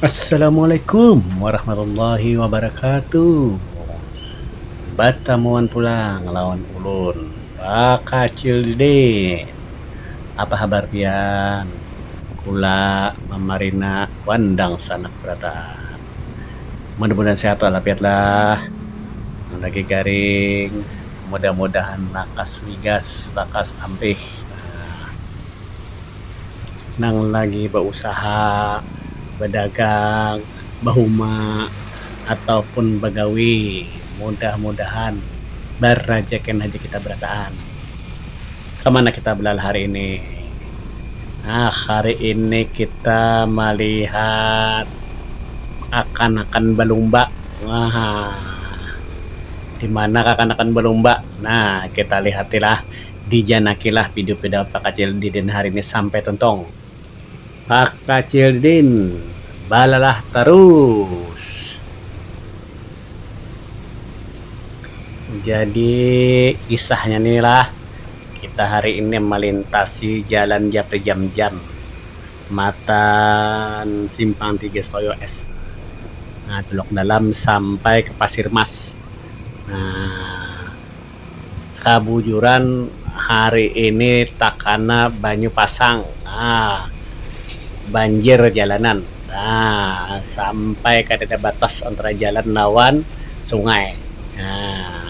Assalamualaikum warahmatullahi wabarakatuh. Batamuan pulang lawan ulun bakacil didin. Apa habar pian? Kula mamarina wan dangsanak barataan. Mudah-mudahan sehat walafiat lah. Nang lagi garing mudah-mudahan lakas wigas, lakas ampih. Nah. nang lagi bausaha, badagang, bahuma atau pun bagawi mudah-mudahan barajakin haja kita barataan. Kamana kita balalu hari ini? Nah hari ini kita malihat kakanakan balumba. Haa dimana kakanakan balumba? Nah kita lihatilah. Dijanakilah pidu pidaun Pakacil Didin hari ni sampai tuntung. Pakacil Didin balalah tarus. Jadi kisahnya ni lah, kita hari ini malintasi jalan Japri Jam Jam matan Simpang Tiga Setoyo es Tulok Dalam sampai ka Pasir Mas. Nah. Kabujuran hari ini takana banyu pasang um banjir jalanan um sampai kadada batas antara jalan lawan sungai um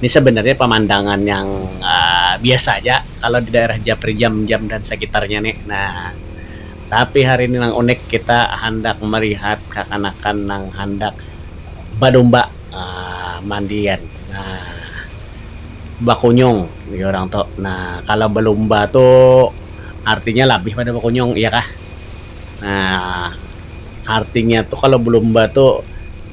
ni sabanarnya pamandangan yang um biasa aja kalau di daerah Japri Jam Jam dan sakitarnya ni um tapi hari ni nang unik kita handak malihat kakanakan nang handak balumba um mandian. Nah bakunyung jar urang tu. Nah kalo belumba tu artinya labih pada bakunyung iya kah. Nah artinya tu kalo belumba tu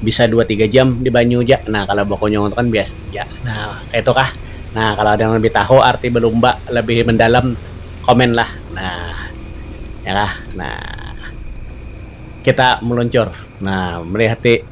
bisa dua tiga jam di banyu ja. Nah kalo bakunyung tu kan biasa ja. Nah kaitu kah. Nah kalo ada nang labih tahu arti belumba labih mendalam komen lah. Nah iya kah. Nah kita meluncur nah melihat ti.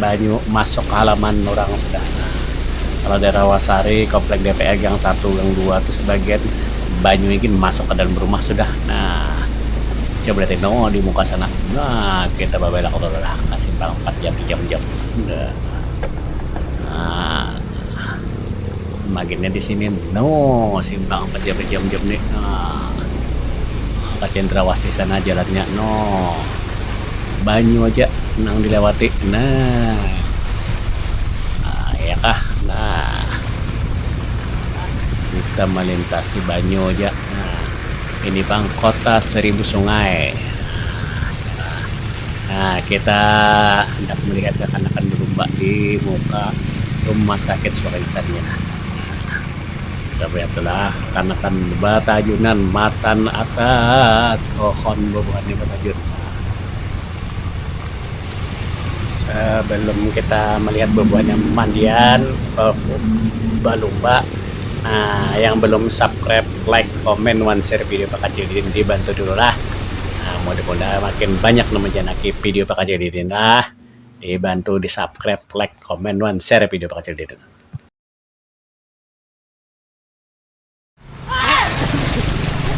Banyu masuk halaman urang sudah nah. Kalo di Rawasari, komplek DPR gang satu, gang dua tu sebagian banyunya gin masuk ka dalam rumah sudah nah. Coba lihat ini noo di muka sana nah kita babelak tu lah ka simpang empat jam sejam jam nah. Maginnya di sini no simpang apa dia badiam diam ni no ka cendrawasih sana jalannya no banyu aja nang dilewati no iya kah no kita malintasi banyu aja no ini pang kota seribu sungai. Nah, kita hendak melihat kakanakan berumba di muka Rumah Sakit Surinsan nya. Kita melihat tu lah kakanakan batajunan matan atas pohon bubuhan nya batajun. Sebelum kita melihat bubuhan nya mandian balumba. Nah yang belum subscribe like comment wan share video pakacil didin di bantu dulu lah nah mudah mudahan makin banyak nang manjanaki video pakacil didin lah di bantu di subscribe like comment wan share video pakacil didin.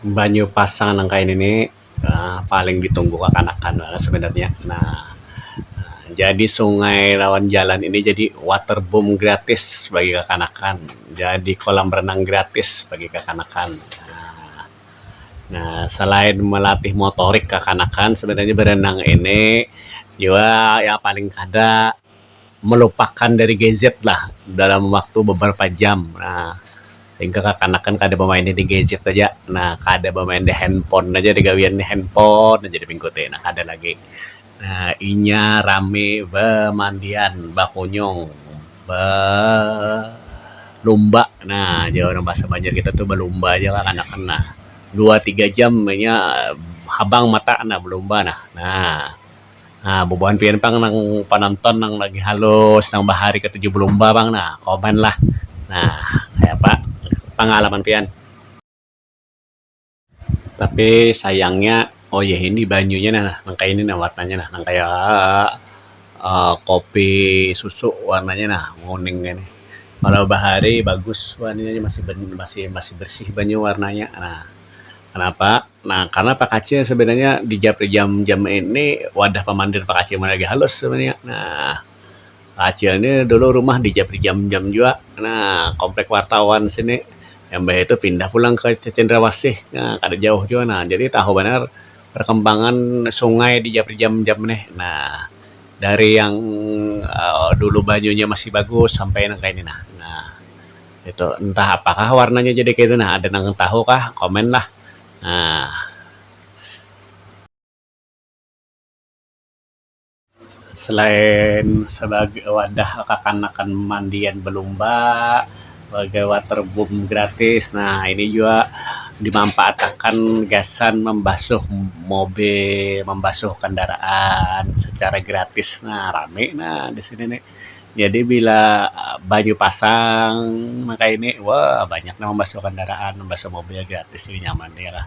Banyu pasang nang kaya nini paling ditunggu kakanakan banar sebenarnya nah jadi sungai lawan jalan ini jadi water boom gratis bagi kakanakan jadi kolam renang gratis bagi kakanakan. Nah, selain melatih motorik kakanakan, sebenarnya berenang ini jua ya paling kada melupakan dari gadget lah dalam waktu beberapa jam. Nah, sehingga kakanakan kada bemain di gadget aja. Nah, kada bemain di handphone aja, di gawian di handphone aja di minggu ti. Nah, kada lagi. Inya rami bamandian, bakunyung, balumba. Nah, jar urang bahasa Banjar kita tu balumba aja lah kanakan nah. Dua tiga jam inya habang mata nah balumba nah. Nah, bubuhan pian pang nang panonton nang lagi halus, nang bahari katuju balumba pang nah, komen lah. Nah, kayapa pangalaman pian? Tapi sayangnya oh ya ini banyunya nah nang kaya ini nah warnanya nah nang kaya um kopi susu warnanya nah kuning ini. Walau bahari bagus warnanya masih masih masih bersih banyu warnanya nah kenapa nah karna pakacil sebenarnya di jam-jam ini wadah pamandir pakacil maya lagi halus sebenarnya nah. Kacil ni dulu rumah di Japri Jam Jam jua kena komplek wartawan sini imbah itu pindah pulang ke Cendrawasih nah kada jauh jua nah jadi tahu banar perkembangan sungai di Japri Jam Jam nih nah dari yang um dulu banyunya masih bagus sampai nang kaya ni nah nah itu entah apakah warnanya jadi kaya itu nah ada nang tahu kah komen lah um. Selain sebagai wadah kakanakan mandian belumba sebagai water boom gratis nah ini jua dimanfaat akan gasan membasuh mobil membasuh kendaraan secara gratis nah rami nah di sini ni jadi bila banyu pasang nang kaya ini wah banyak nang membasuh kendaraan membasuh mobil gratis nyaman nya lah.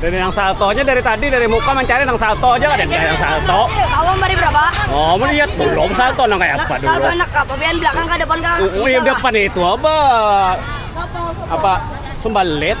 Dari nang salto aja dari tadi dari muka mencari nang salto aja ada yang salto. Kamu beri berapa? Oh, mau lihat belum salto nang kayak apa dulu. Salto anak apa? Biar belakang ke depan kan. Oh, iya depan itu apa? Apa? Sumbalit.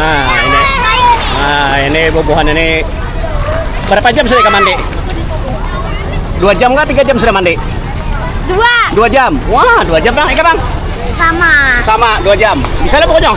Nah, ini. Nah, ini bubuhan ini berapa jam sudah mandi? Dua jam kah? Tiga jam sudah mandi? Dua. Dua jam. Wah, dua jam bang. Ika bang. Sama. Sama, dua jam. Bisa lah pokoknya.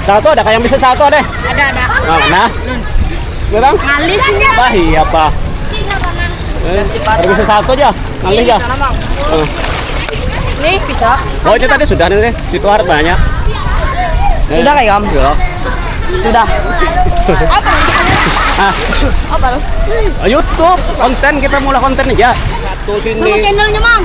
Satu ada yang bisa satu ada? Ada ada. Nah, mana? Sekarang? Ngalih sini. Bah iya pak. Eh, ada bisa satu aja. Ngalih aja. Eh. Ini bisa. Oh itu tadi sudah nih. Situ harus banyak. Eh. Sudah kayak om? Ya. Sudah. Apa? Ah. Apa? YouTube konten kita mulai konten aja. Satu sini. Sama channelnya mang.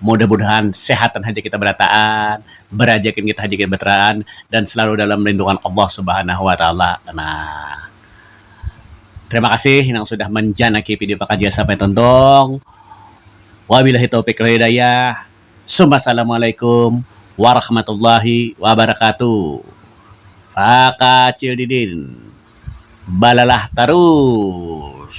Mudah mudahan sehatan haja kita berataan, berajakin kita haja kita berataan dan selalu dalam lindungan Allah subhanahu wa taala. Nah. Terima kasih nang sudah manjanaki video pakajian sampai tuntung. Wabilahi taufik wal hidayah. Summa salamualaikum warahmatullahi wabarakatuh. Pakacil didin balalah tarus.